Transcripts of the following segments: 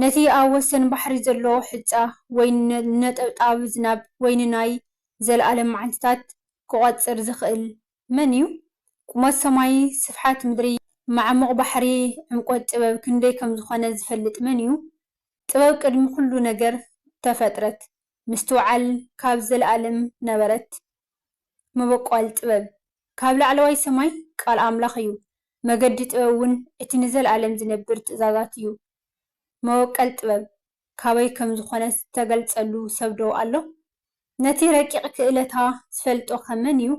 ነቲ ኣብ ወሰን ባሕሪ ዘሎ ሑጻ ወይ ንነጠብጣብ ዝናብ ወይ ንናይ ዘለኣለም መዓልትታት ክቖጽር ዝኽእል መን እዩ? ቁመት ሰማይ፣ ስፍሓት ምድሪ፣ መዓሙቕ ባሕሪ፣ ዕምቈት ጥበብ ክንደይ ከም ዝዀነ ዝፈልጥ መን እዩ? ጥበብ ቅድሚ ዅሉ ነገር ተፈጥረት፣ ምስትውዓል ካብ ዘለኣለም ነበረት። መበቈል ጥበብ ካብ ላዕለዋይ ሰማይ ቃል ኣምላኽ እዩ፣ መገዲ ጥበብ እውን እቲ ንዘለኣለም ዚነብር ትእዛዛት እዩ። መበቈል ጥበብ ካበይ ከም ዝዀነት ዝተገልጸሉ ሰብዶ ኣሎ? ነቲ ረቂቕ ክእለታ ዝፈልጦኸ መን እዩ?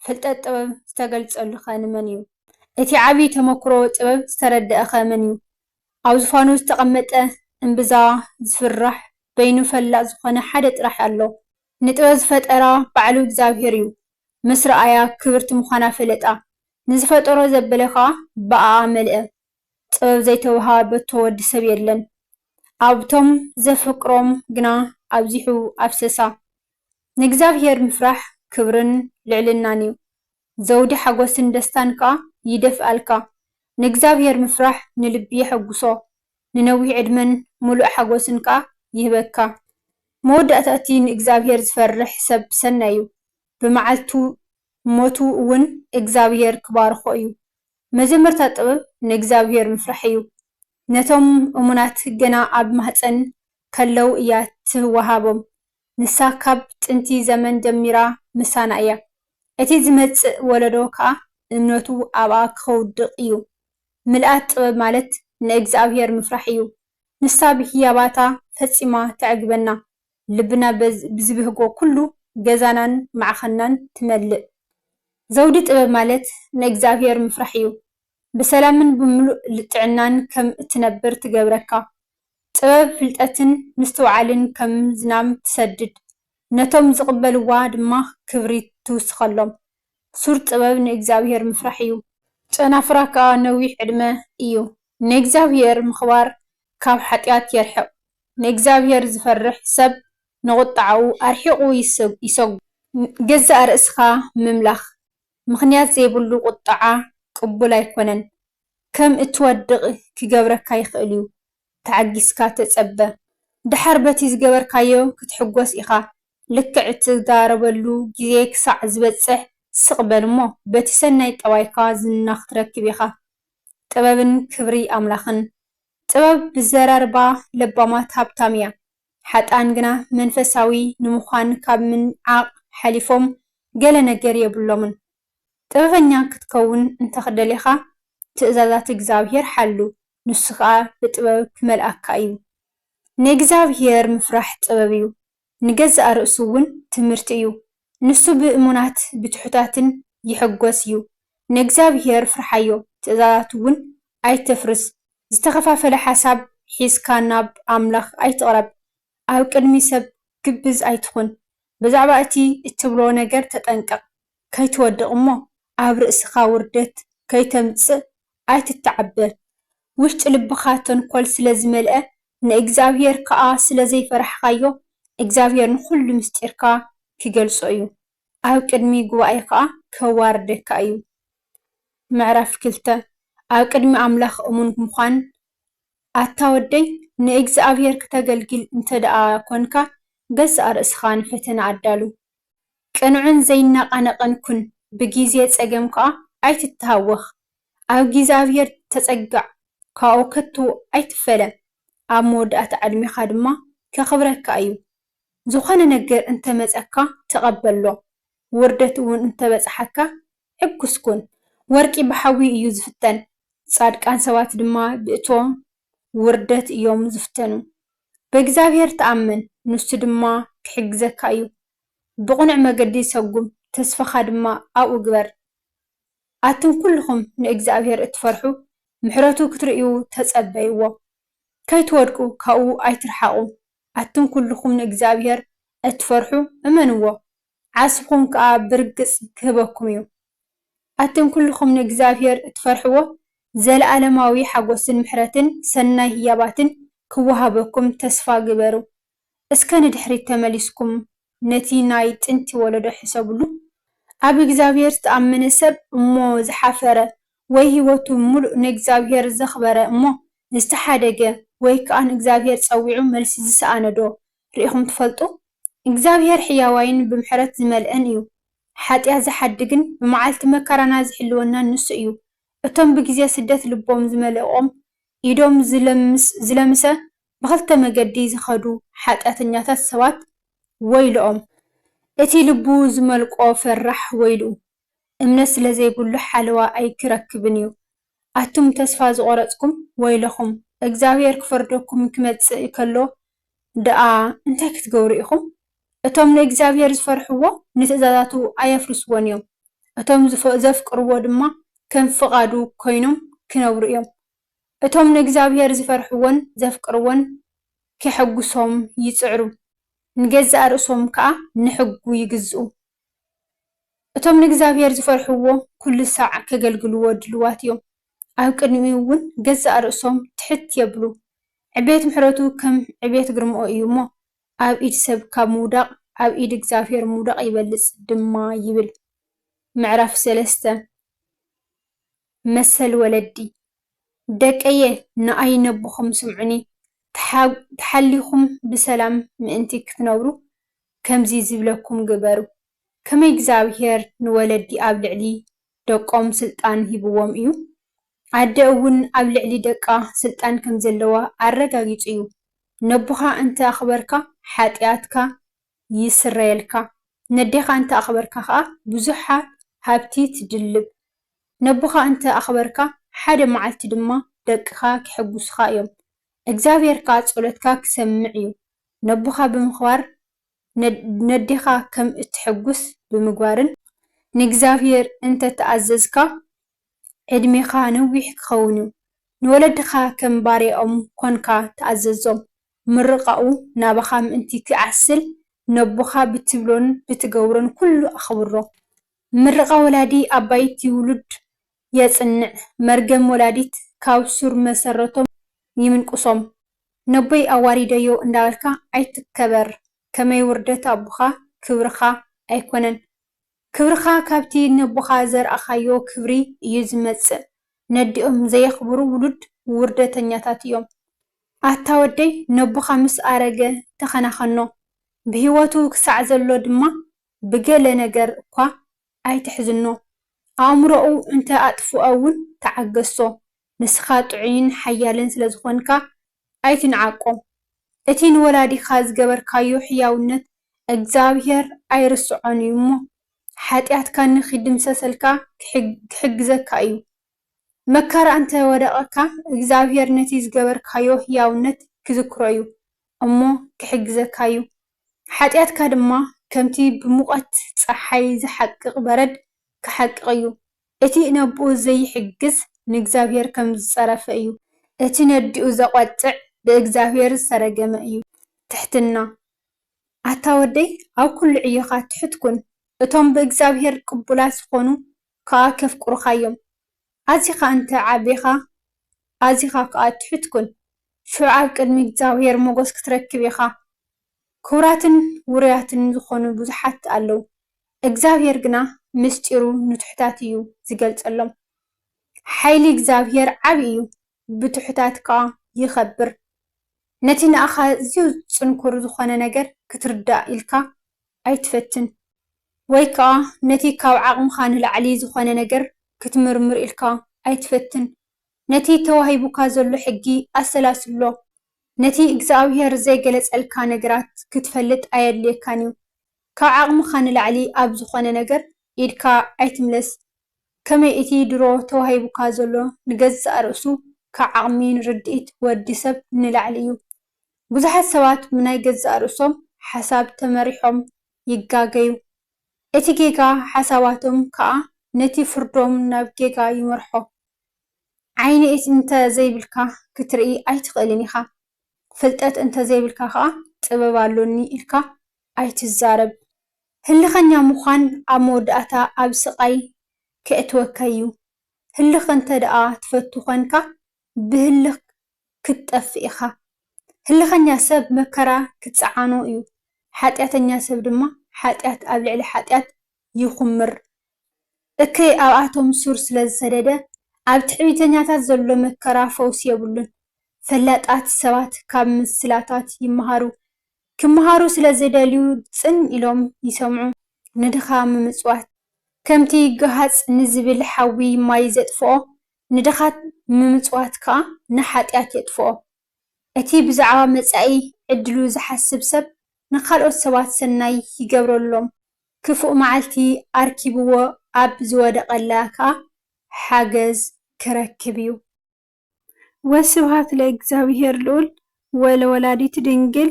ፍልጠት ጥበብ ዝተገልጸሉኸ ንመን እዩ? እቲ ዓብዪ ተመክሮ ጥበብ ዝተረድኣኸ መን እዩ? ኣብ ዝፋኑ ዝተቐመጠ እምብዛ ዚፍራሕ በይኑ ፈላጥ ዝዀነ ሓደ ጥራሕ ኣሎ፣ ንጥበብ ዝፈጠራ ባዕሉ እግዚኣብሄር እዩ፣ ምስ ረኣያ ክብርቲ ምዃና ፈለጣ፣ ንዝፈጠሮ ዘበለ ከኣ ብኣኣ መልአ። ጥበብ ዘይተወሃበቶ ወዲ ሰብ የለን። ኣብቶም ዘፍቅሮም ግና ኣብዚሑ ኣፍሰሳ። ንእግዚኣብሄር ምፍራሕ ክብርን ልዕልናን እዩ፣ ዘውዲ ሓጐስን ደስታን ከኣ ይደፍኣልካ። ንእግዚኣብሄር ምፍራሕ ንልቢ የሐጕሶ፣ ንነዊሕ ዕድመን ምሉእ ሓጐስን ከኣ ይህበካ። መወዳእታ እቲ ንእግዚኣብሄር ዝፈርሕ ሰብ ሰናይ እዩ፣ ብመዓልቱ ሞቱ እውን እግዚኣብሄር ክባርኾ እዩ። መጀመርታ ጥበብ ንእግዚኣብሄር ምፍራሕ እዩ። ነቶም እሙናት ገና ኣብ ማህጸን ከለዉ እያ ትወሃቦም፣ ንሳ ካብ ጥንቲ ዘመን ጀሚራ ምሳና እያ። እቲ ዝመጽእ ወለዶ ከኣ እምነቱ ኣብኣ ከውድቕ እዩ። ምልኣት ጥበብ ማለት ንእግዝኣብሄር ምፍራሕ እዩ። ንሳ ብህያባታ ፈጺማ ተዕግበና፣ ልብና ብዝብህጎ ኩሉ ገዛናን ማዕኸናን ትመልእ። ዘውዲ ጥበብ ማለት ንእግዝኣብሄር ምፍራሕ እዩ። ብሰላምን ብምሉእ ጥዕናን ከም እትነብር ትገብረካ። ጥበብ ፍልጠትን ምስትውዓልን ከም ዝናም ትሰድድ፣ ነቶም ዝቕበልዋ ድማ ክብሪ ትውስኸሎም። ሱር ጥበብ ንእግዚኣብሄር ምፍራሕ እዩ። ጨናፍራ ከኣ ነዊሕ ዕድመ እዩ። ንእግዚኣብሄር ምኽባር ካብ ሓጢኣት የርሕቕ። ንእግዚኣብሄር ዝፈርሕ ሰብ ንቑጥዓኡ ኣርሒቑ ይሰጉ። ንገዛእ ርእስኻ ምምላኽ፣ ምኽንያት ዘይብሉ ቁጥዓ ቅቡል ኣይኮነን። ከም እትወድቕ ኪገብረካ ይኽእል እዩ። ተዓጊስካ ተጸበ። ደሓር በቲ ዝገበርካዮ ክትሕጐስ ኢኻ። ልክዕ እትዛረበሉ ግዜ ክሳዕ ዚበጽሕ ስቕ በል እሞ፣ በቲ ሰናይ ጠባይካ ዝና ኽትረክብ ኢኻ። ጥበብን ክብሪ ኣምላኽን። ጥበብ ብዘራርባ ለባማት ሃብታም እያ፣ ሓጥኣን ግና መንፈሳዊ ንምዃን ኻብ ምንዓቕ ሓሊፎም ገለ ነገር የብሎምን። ጥበበኛ ኽትከውን እንተ ደሊኻ፣ ትእዛዛት እግዚኣብሄር ሓሉ፣ ንሱ ኸኣ ብጥበብ ኪመልኣካ እዩ። ንእግዚኣብሄር ምፍራሕ ጥበብ እዩ። ንገዛእ ርእሱ እውን ትምህርቲ እዩ። ንሱ ብእሙናት ብትሑታትን ይሕጐስ እዩ። ንእግዚኣብሄር ፍርሓዮ፣ ትእዛዛቱ እውን ኣይተፍርስ። ዝተኸፋፈለ ሓሳብ ሒዝካ ናብ ኣምላኽ ኣይትቕረብ። ኣብ ቅድሚ ሰብ ግብዝ ኣይትኹን። ብዛዕባ እቲ እትብሎ ነገር ተጠንቀቕ። ከይትወድቕ እሞ ኣብ ርእስኻ ውርደት ከይተምጽእ ኣይትተዓበ። ውሽጢ ልብኻ ተንኮል ስለ ዝመልኣ ንእግዚኣብሄር ከኣ ስለ ዘይፈራሕካዮ እግዚኣብሄር ንኹሉ ምስጢርካ ኪገልጾ እዩ። ኣብ ቅድሚ ጉባኤ ከኣ ከዋርደካ እዩ። ምዕራፍ ክልተ፣ ኣብ ቅድሚ ኣምላኽ እሙን ምዃን ኣታ ወደይ ንእግዚኣብሄር ክተገልግል እንተደኣ ኰንካ ገዛእ ርእስኻ ንፈተና ኣዳሉ። ቅኑዕን ዘይነቓነቕን ኩን፣ ብጊዜ ጸገም ከኣ ኣይትተሃወኽ። ኣብ እግዚኣብሄር ተጸጋዕ፣ ካብኡ ከቶ ኣይትፈለ፣ ኣብ መወዳእታ ዕድሜኻ ድማ ከኽብረካ እዩ። ዝኾነ ነገር እንተ መጸካ ተቐበሎ፣ ውርደት እውን እንተ በጽሓካ ሕጉስ ኩን። ወርቂ ብሓዊ እዩ ዝፍተን፣ ጻድቃን ሰባት ድማ ብእቶን ውርደት እዮም ዝፍተኑ። ብእግዚኣብሄር ተኣመን፣ ንሱ ድማ ኪሕግዘካ እዩ። ብቕኑዕ መገዲ ሰጕም፣ ተስፋኻ ድማ ኣብኡ ግበር። ኣቱም ኵልኹም ንእግዚኣብሄር እትፈርሑ፣ ምሕረቱ ክትርእዩ ተጸበይዎ። ከይትወድቁ ካብኡ ኣይትርሓቑ። ኣቱም ኵልኹም ንእግዚኣብሄር እትፈርሑ፣ እመንዎ፣ ዓስብኹም ከኣ ብርግጽ ኪህበኩም እዩ። ኣቱም ኩሉኹም ንእግዚኣብሔር እትፈርሕዎ ዘለዓለማዊ ሓጎስን ምሕረትን ሰናይ ህያባትን ክወሃበኩም ተስፋ ግበሩ። እስከ ንድሕሪት ተመሊስኩም ነቲ ናይ ጥንቲ ወለዶ ሕሰብሉ። ኣብ እግዚኣብሔር ዝተኣመነ ሰብ እሞ ዝሓፈረ ወይ ሕይወቱ ምሉእ ንእግዚኣብሔር ዘኽበረ እሞ ዝተሓደገ ወይ ከኣ ንእግዚኣብሔር ጸዊዑ መልሲ ዝሰኣነዶ ርኢኹም ትፈልጡ? እግዚኣብሔር ሕያዋይን ብምሕረት ዝመልኤን እዩ። ሓጢኣት ዝሓድግን ንመዓልቲ መከራና ዝሕልወናን ንሱ እዩ። እቶም ብግዜ ስደት ልቦም ዝመለቖም ኢዶም ዝለምሰ ብኽልተ መገዲ ዝኸዱ ሓጢኣተኛታት ሰባት ወይልኦም። እቲ ልቡ ዝመልቆ ፈራሕ ወይልኡ። እምነት ስለ ዘይብሉ ሓለዋ ኣይክረክብን እዩ። ኣቱም ተስፋ ዝቆረጽኩም ወይለኹም እግዝኣብሄር ክፈርደኩም ክመጽእ ከሎ ድኣ እንታይ ክትገብሩ ኢኹም እቶም ንእግዝኣብሄር ዝፈርሕዎ ንትእዛዛቱ ኣየፍርስዎን እዮም እቶም ዘፍቅርዎ ድማ ከም ፍቃዱ ኮይኖም ክነብሩ እዮም እቶም ንእግዝኣብሄር ዝፈርሕዎን ዘፍቅርዎን ኬሐጉሶም ይጽዕሩ ንገዛእ ርእሶም ከኣ ንሕጉ ይግዝኡ። እቶም ንእግዚኣብሄር ዝፈርሕዎ ኩሉ ሳዕ ከገልግልዎ ድሉዋት እዮም። ኣብ ቅድሚኡ እውን ገዛእ ርእሶም ትሕት የብሉ። ዕቤት ምሕረቱ ከም ዕቤት ግርማኡ እዩ እሞ፣ ኣብ ኢድ ሰብ ካብ ምውዳቕ ኣብ ኢድ እግዚኣብሄር ምውዳቕ ይበልጽ ድማ ይብል። ምዕራፍ ሰለስተ። መሰል ወለዲ፣ ደቀየ ንኣይ ነቦኹም ስምዑኒ፣ ተሓሊኹም ብሰላም ምእንቲ ክትነብሩ ከምዚ ዝብለኩም ግበሩ። ከመይ እግዚኣብሄር ንወለዲ ኣብ ልዕሊ ደቆም ስልጣን ሂብዎም እዩ፣ ኣደ እውን ኣብ ልዕሊ ደቃ ስልጣን ከም ዘለዋ ኣረጋጊጹ እዩ። ነቦኻ እንተ ኣኽበርካ ሓጥያትካ ይስረየልካ፣ ነዴኻ እንተ ኣኽበርካ ከኣ ብዙሓት ሃብቲ ትድልብ። ነቦኻ እንተ ኣኽበርካ፣ ሓደ መዓልቲ ድማ ደቅኻ ኼሐጕሱኻ እዮም፣ እግዚኣብሄር ከኣ ጸሎትካ ኪሰምዕ እዩ። ነቦኻ ብምኽባር፣ ነዴኻ ኸም እተሐጕስ ብምግባርን፣ ንእግዚኣብሄር እንተ ተኣዘዝካ፣ ዕድሜኻ ነዊሕ ኪኸውን እዩ። ንወለድኻ ኸም ባርያኦም ኰንካ ተኣዘዞም። ምርቓኡ ናባኻ ምእንቲ ኺዓስል፣ ነቦኻ ብትብሎን ብትገብሮን ኵሉ ኣኽብሮ። ምርቓ ወላዲ ኣባይቲ ውሉድ የጽንዕ፣ መርገም ወላዲት ካብ ሱር መሰረቶም ይምንቁሶም። ነቦይ ኣዋሪደዮ እንዳበልካ ኣይትከበር ከመይ ውርደት ኣቦኻ ክብርኻ ኣይኮነን። ክብርኻ ካብቲ ነቦኻ ዘርኣኻዮ ክብሪ እዩ ዝመጽእ። ነዲኦም ዘየኽብሩ ውሉድ ውርደተኛታት እዮም። ኣታ ወደይ ነቦኻ ምስ ኣረገ ተኸናኸኖ። ብሂወቱ ክሳዕ ዘሎ ድማ ብገለ ነገር እኳ ኣይትሕዝኖ፣ ኣእምሮኡ እንተ ኣጥፍኦ እውን ተዓገሶ፣ ንስኻ ጥዑይን ሓያልን ስለ ዝዀንካ ኣይትንዓቆ። እቲ ንወላዲኻ ዝገበርካዮ ሕያውነት እግዚኣብሄር ኣይርስዖን እዩ እሞ፣ ሓጢኣትካ ንኺድምሰሰልካ ኺሕግዘካ እዩ። መከራ እንተ ወደቐካ፣ እግዚኣብሄር ነቲ ዝገበርካዮ ህያውነት ኪዝክሮ እዩ እሞ፣ ኪሕግዘካ እዩ። ሓጢኣትካ ድማ ከምቲ ብሙቐት ጸሓይ ዚሓቅቕ በረድ ኪሓቅቕ እዩ። እቲ ነቦኡ ዘይሕግዝ፣ ንእግዚኣብሄር ከም ዝጸረፈ እዩ። እቲ ነዲኡ ዘቖጥዕ፣ ብእግዚኣብሄር ዝተረገመ እዩ። ትሕትና። ኣታ ወደይ፣ ኣብ ኵሉ ዕዮኻ ትሑት ኩን። እቶም ብእግዚኣብሄር ቅቡላት ዚዀኑ፣ ከኣ ኬፍቅሩኻ'ዮም። ኣዚኻ እንተ ዓቢኻ፣ ኣዚኻ ከኣ ትሑት ኩን፣ ሽዑ ኣብ ቅድሚ እግዚኣብሄር ሞገስ ክትረክብ ኢኻ። ክቡራትን ውሩያትን ዝኾኑ ብዙሓት ኣለዉ፣ እግዚኣብሄር ግና ምስጢሩ ንትሑታት እዩ ዚገልጸሎም። ሓይሊ እግዚኣብሄር ዓቢ እዩ፣ ብትሑታት ከኣ ይኸብር። ነቲ ንኣኻ ኣዝዩ ጽንኩር ዝኾነ ነገር ክትርዳእ ኢልካ ኣይትፈትን ወይ ከኣ ነቲ ካብ ዓቕምኻ ንላዕሊ ዝኾነ ነገር ክትምርምር ኢልካ ኣይትፈትን። ነቲ ተዋሂቡካ ዘሎ ሕጊ ኣሰላስሎ። ነቲ እግዝኣብሄር ዘይገለጸልካ ነገራት ክትፈልጥ ኣየድልየካን እዩ። ካብ ዓቕምኻ ንላዕሊ ኣብ ዝኾነ ነገር ኢድካ ኣይትምለስ። ከመይ እቲ ድሮ ተዋሂቡካ ዘሎ ንገዛእ ርእሱ ካብ ዓቕሚን ርድኢት ወዲ ሰብ ንላዕሊ እዩ። ብዙሓት ሰባት ብናይ ገዛእ ርእሶም ሓሳብ ተመሪሖም ይጋገዩ፣ እቲ ጌጋ ሓሳባቶም ከኣ ነቲ ፍርዶም ናብ ጌጋ ይመርሖ። ዓይኒ እንተ ዘይብልካ ክትርኢ ኣይትኽእልን ኢኻ፣ ፍልጠት እንተ ዘይብልካ ከኣ ጥበብ ኣሎኒ ኢልካ ኣይትዛረብ። ህልኸኛ ምዃን ኣብ መወዳእታ ኣብ ስቓይ ኬእትወካ'ዩ። ህልኽ እንተደኣ ትፈቱ ዄንካ፣ ብህልኽ ክትጠፍእ ኢኻ። ህልኸኛ ሰብ መከራ ክጸዓኖ እዩ፣ ሓጢኣተኛ ሰብ ድማ ሓጢኣት ኣብ ልዕሊ ሓጢኣት ይኹምር። እከይ ኣብኣቶም ሱር ስለ ዝሰደደ፣ ኣብ ትዕቢተኛታት ዘሎ መከራ ፈውሲ የብሉን። ፈላጣት ሰባት ካብ ምስላታት ይመሃሩ፣ ክመሃሩ ስለ ዝደልዩ ጽን ኢሎም ይሰምዑ። ንድኻ ምምጽዋት። ከምቲ ገሃጽ ንዝብል ሓዊ ማይ ዘጥፍኦ፣ ንድኻት ምምጽዋት ከኣ ንሓጢኣት የጥፍኦ። እቲ ብዛዕባ መጻኢ ዕድሉ ዚሓስብ ሰብ፣ ንኻልኦት ሰባት ሰናይ ይገብረሎም፣ ክፉእ መዓልቲ ኣርኪብዎ ኣብ ዝወደቐላ ከኣ ሓገዝ ኪረክብ እዩ። ወስብሃት ለእግዚኣብሔር ልዑል ወለወላዲቱ ድንግል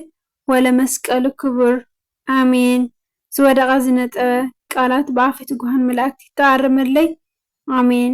ወለመስቀሉ ክቡር ኣሜን። ዝወደቐ ዝነጠበ ቃላት ብኣፈ ትጉሃን መላእክት ይተኣረመለይ ኣሜን።